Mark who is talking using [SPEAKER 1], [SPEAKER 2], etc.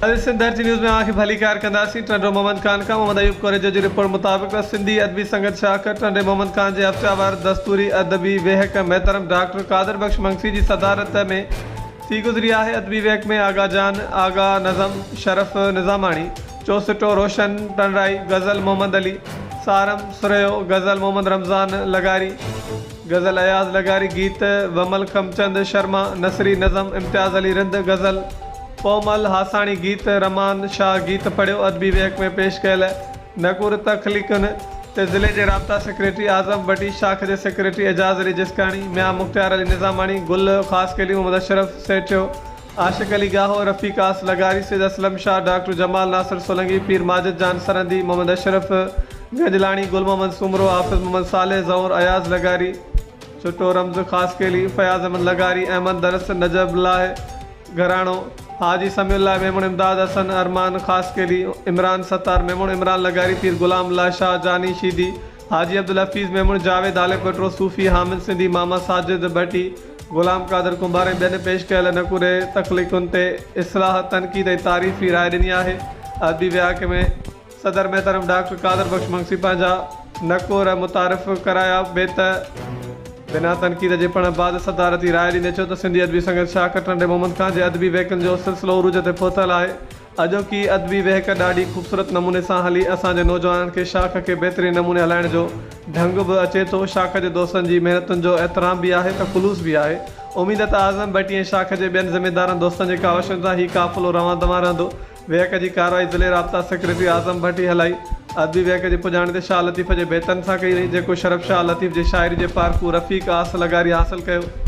[SPEAKER 1] اڄ سنڌ ڌرتي نيوز ۾ اوهان کي ڀليڪار ڪنداسين ٽنڊو محمد خان کان محمد ايوب ڪوريجو جي رپورٽ مطابق ته سنڌي ادبي سنگت شاخ ٽنڊي محمد خان جي هفتياوار دستوري ادبي ويهڪ محترم ڊاڪٽر قادر بخش منگسي جي صدارت ۾ ٿي گذري آهي ادبي ويهڪ ۾ آغا جان آغا نظم شرف نظاماڻي چوسٽو روشن پڻرائي غزل محمد علي سارم سرهيو غزل محمد رمضان لغاري غزل اياز لغاري گيت و ملڪم چند شرما نثري نظم امتياز علي رند غزل پومل هاساڻي گيت رمان شاهه گيت پڙهيو ادبي ويهڪ ۾ پيش ڪيل نقور تخليقن تي ضلعي جي رابطا سيڪريٽري اعظم بٽي شاخ جي سيڪريٽري اعجاز علي جسڪاڻي ميان مختيار علي نظاماڻي گل خاصخيلي محمد اشرف سيٺيو عاشق علي ڳاهو، رفيق آس لغاري، سيد اسلم شاهه، ڊاڪٽر جمال ناصر سولنگي، پير ماجد جان سرهندي، محمد اشرف گجلاڻي، گل محمد سومرو، حافظ محمد صالح، ظهور اياز لغاري، ڇٽو رمز خاصخيلي، فياض احمد لغاري، احمد درس، نجف الله گهراڻو، حاجي سميع الله ميمڻ، امداد حسن، ارمان خاصخيلي، عمران ستار ميمڻ، عمران لغاري، پير غلام الله شاهه جاني شيدي، حاجي عبدالحفيظ ميمڻ، جاويد هاليڪوٽرو، صوفي حامد سنڌي، ماما ساجد ڀٽي، غلام قادر ڪنڀار ۽ ٻين پيش ڪيل نڪوري تخليقن تي اصلاح، تنقيد ۽ تعريفي راء ڏني آهي. ادبي ويهاڪ ۾ صدر محترم ڊاڪٽر قادر بخش منگسي پنهنجا نڪور متعارف ڪرايا. بيت. بنا تنقيد جي پڙهڻ بعد صدارتي راء ڏني چيو ته سنڌي ادبي سنگت شاهه ڪٽنڊي محمد خان جي ادبي ويهڪن جو سلسلو عروج تي پهتل آهي. اڄوڪي ادبي وهڪ ڏاڍي خوبصورت نموني سان هلي اسان جي نوجوانن کي شاخ کي بهترين نموني هلائڻ جو ڍنگ به اچي ٿو شاخ جي دوستن جي محنتن جو احترام به آهي ته خلوص به آهي اميد ته اعظم ڀٽي ۽ شاخ جي ٻين ذميدارن دوستن جي ڪاوشن سان هي قافلو روان دوان رهندو وهڪ جي ڪارروائي ضلعي رابطا سيڪريٽري اعظم ڀٽي هلائي ادبي وهڪ جي پڄاڻي ته شاهه لطيف جي بيتن سان ڪئي وئي جيڪو شرف شاهه لطيف جي شاعري جي پارکو رفيق آس لغاري حاصل ڪيو.